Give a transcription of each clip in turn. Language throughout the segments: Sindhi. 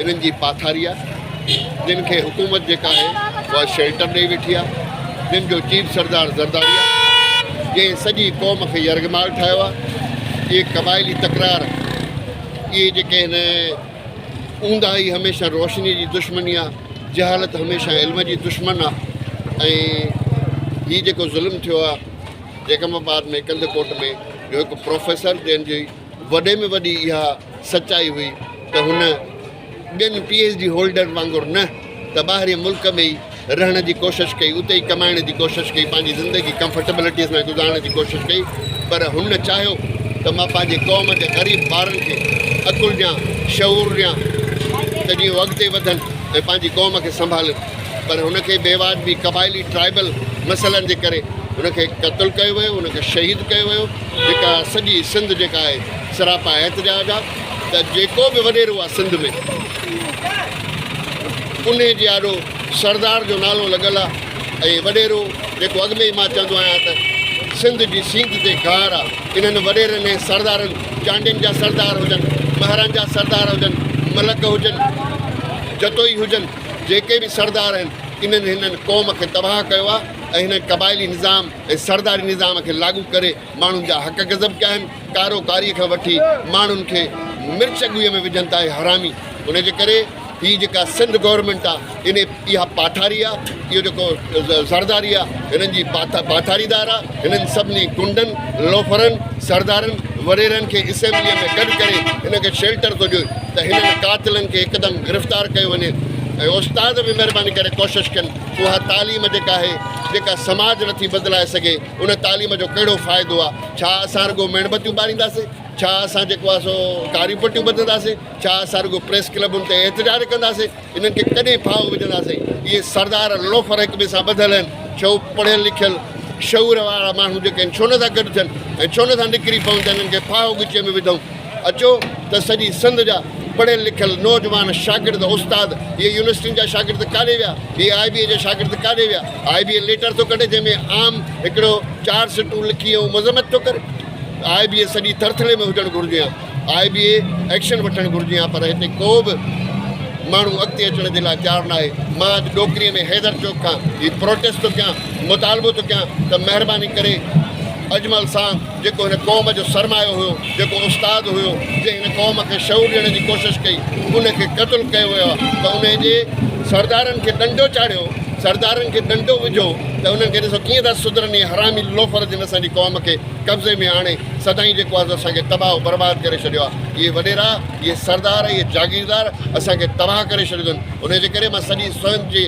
انهن جي پاٿاري آهي جن کي حڪومت جيڪا آهي اها شيلٽر ڏئي ويٺي آهي جن جو چيف سردار زرداري آهي جنهن سڄي قوم کي يرغمال ٺاهيو آهي اهي قبائلي تڪرار اهي جيڪي هن اونداهي هميشه روشني جي دشمني آهي جهالت هميشه علم جي دشمن آهي ۽ هي جيڪو ظلم ٿيو آهي جيڪم آباد ۾ ڪنڌ ڪوٽ ۾ جو هڪ پروفيسر جنهن جي وڏي ۾ وڏي اها سچائي هئي ته هن ٻين پي ايڇ ڊي هولڊرن وانگر نه ته ٻاهرين ملڪ ۾ ئي رهڻ جي ڪوشش ڪئي، اتي ئي ڪمائڻ جي ڪوشش ڪئي، پنهنجي زندگي ڪمفرٽيبلٽيء سان گذارڻ جي ڪوشش ڪئي، پر هن چاهيو ته مان پنهنجي قوم جي غريب ٻارن کي عقل ڏيان، شعور ڏيان ته جيئن هو اڳتي وڌن ۽ پنهنجي قوم کي سنڀالين، پر هن کي بيواجبي قبائلي، Tribal، مسئلن جي ڪري هن کي قتل ڪيو ويو، هن کي شهيد ڪيو ويو. جيڪا سڄي سنڌ جيڪا آهي سراپا احتجاج آ ته جيڪو به وڏيرو آ سنڌ ۾ انهي جي آڏو سردار جو نالو لڳل آ ۽ وڏيرو جيڪو اڳ ۾ ئي مان چوندو آهيان ته سنڌ جي سينڌ تي گهار آ انهن وڏيرن ۽ سردارن چانڊين جا سردار هجن مهران جا سردار هجن ملڪ هجن جتوئي هجن جيڪي به سردار آهن انهن هنن قوم کي تباهه ڪيو آ ۽ هنن قبائلي نظام ۽ سرداري نظام کي لاڳو ڪري ماڻهن جا حق غضب ڪيا آهن، ڪارو ڪاري کان وٺي ماڻهن کي مرچ ڳوئي ۾ وجهن ٿا اهي حرامي، ان جي ڪري هي جيڪا سنڌ گورنمينٽ آ ان اها پاٺاري آ، اهو جيڪو زرداري آ هنن جي پاٺاريدار آ، هنن سڀني گنڊن، لوفرن، سردارن، وڏيرن کي اسيمبليء ۾ گڏ ڪري هن کي شيلٽر ٿو ڏيو ته هنن قاتلن کي هڪدم گرفتار ڪيو وڃي ۽ استاد به مهرباني ڪري ڪوشش ڪن اها تعليم جيڪا آهي، جيڪا سماج نٿي بدلائي سگهي، ان تعليم جو ڪهڙو فائدو آ؟ ڇا اسان رڳو ميڻ بتيون ٻارينداسين؟ ڇا اسان جيڪو آ سو ڪاريون پٽيون ٻڌنداسين؟ ڇا اسان رڳو پريس ڪلبن تي احتجاج ڪنداسين؟ انهن کي ڪڏهن ڦاهو وجهنداسين؟ اهي سردار لوفر هڪ ٻئي سان ٻڌل آهن، ڇو پڙهيل لکيل شعور وارا ماڻهو جيڪي آهن ڇو نٿا گڏ ٿين ۽ ڇو نٿا نڪري پون ته انهن کي ڦاهو ڳچيء ۾ وڌون؟ اچو ته سڄي سنڌ جا پڙهيل لکيل نوجوان شاگرد استاد اهي يونيورسٽين جا شاگرد ڪاڏي ويا اهي آء بي اي جا شاگرد ڪاڏي ويا آء بي اي ليٽر ٿو ڪڍي جنهن ۾ عام هڪڙو چار سٽون لکي ۽ مذمت ٿو ڪري آء بي اي سڄي ٿرٿلي ۾ هجڻ گهرجي ها آء بي اي ايڪشن وٺڻ گهرجي ها پر هتي ڪو به ماڻهو اڳتي اچڻ جي لاء تيار ناهي مان اڄ ڏوڪري ۾ حيدر چوڪ کان هي پروٽيسٽ ٿو ڪيان مطالبو ٿو ڪيان ته مهرباني ڪري اجمل سان جيڪو هن قوم جو سرمايو هيو، جيڪو استاد هيو، جنهن هن قوم کي شعور ڏيڻ جي ڪوشش ڪئي، ان کي قتل ڪيو ويو آهي ته انهي جي سردارن کي ڏنڊو چاڙهيو، سردارن کي ڏنڊو وجهو ته انهن کي ڏسو ڪيئن ٿا سڌرن اهي حرامي لوفر جن اسان جي قوم کي قبضي ۾ آڻي سدائين جيڪو آهي سو اسان کي تباهه و برباد ڪري ڇڏيو آهي اهي وڏيرا اهي سردار اهي جاگيردار اسان کي تباهه ڪري ڇڏيو اٿن انهي جي ڪري مان سڄي سنڌ جي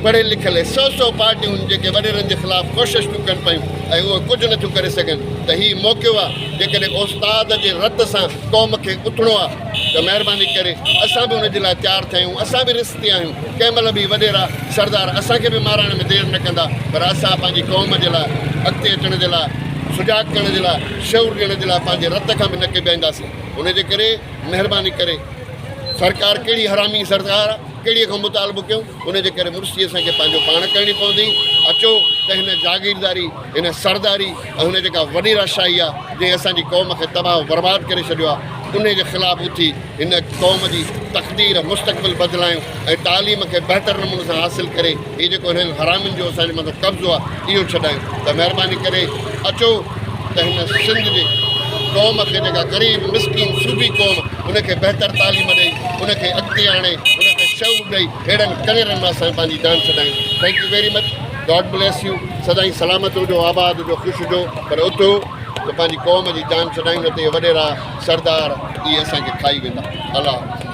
پڙهيل لکيل سو سو پارٽيون جيڪي وڏيرن جي خلاف ڪوشش ٿيون ڪن پيون ۽ اهي ڪجهه نٿيون ڪري سگهن ته هي موقعو آهي جيڪڏهن استاد جي رت سان قوم کي اٿڻو آهي ته مهرباني ڪري اسان به ان جي لاء تيار ٿيا آهيون اسان به رستي آهيون ڪنهن مهل به وڏيرا سردار اسان کي به مارائڻ ۾ دير نه ڪندا پر اسان پنهنجي قوم جي لاء اڳتي اچڻ جي لاء سجاڳ ڪرڻ جي لاء شعور ڏيڻ جي لاء پنهنجي رت کان به نه ڪيٻائينداسين ان جي ڪري مهرباني ڪري سرڪار ڪهڙي حرامي سرڪار آهي. ڪهڙيء کان مطالبو ڪيون؟ ان جي ڪري مڙسي اسان کي پنهنجو پاڻ ڪرڻي پوندي. اچو ته هن جاگيرداري، هن سرداري ۽ هن جيڪا وڏي راشاهي آ، جنهن اسان جي قوم کي تباهه و برباد ڪري ڇڏيو آ، انهيء جي خلاف اٿي هن قوم جي تقدير، مستقبل بدلايون ۽ تعليم کي بهتر نموني سان حاصل ڪري، هي جيڪو هنن حرامين جو اسان جي مٿان قبضو آ اهو ڇڏايو ته مهرباني ڪري اچو ته هن سنڌ جي قوم کي جيڪا غريب مسڪين صوبي قوم ان کي بهتر تعليم ڏئي ان کي اڳتي آڻي ان کي شعور ڏئي اهڙن ڪنيرن مان اسان پنهنجي جان ڇڏايون thank you very much God bless you سدائين سلامت هجو آباد هجو خوش هجو پر اٿو ته پنهنجي قوم جي جان ڇڏايون نه ته اهي وڏيرا سردار اهي اسان کي کائي ويندا الله حافظ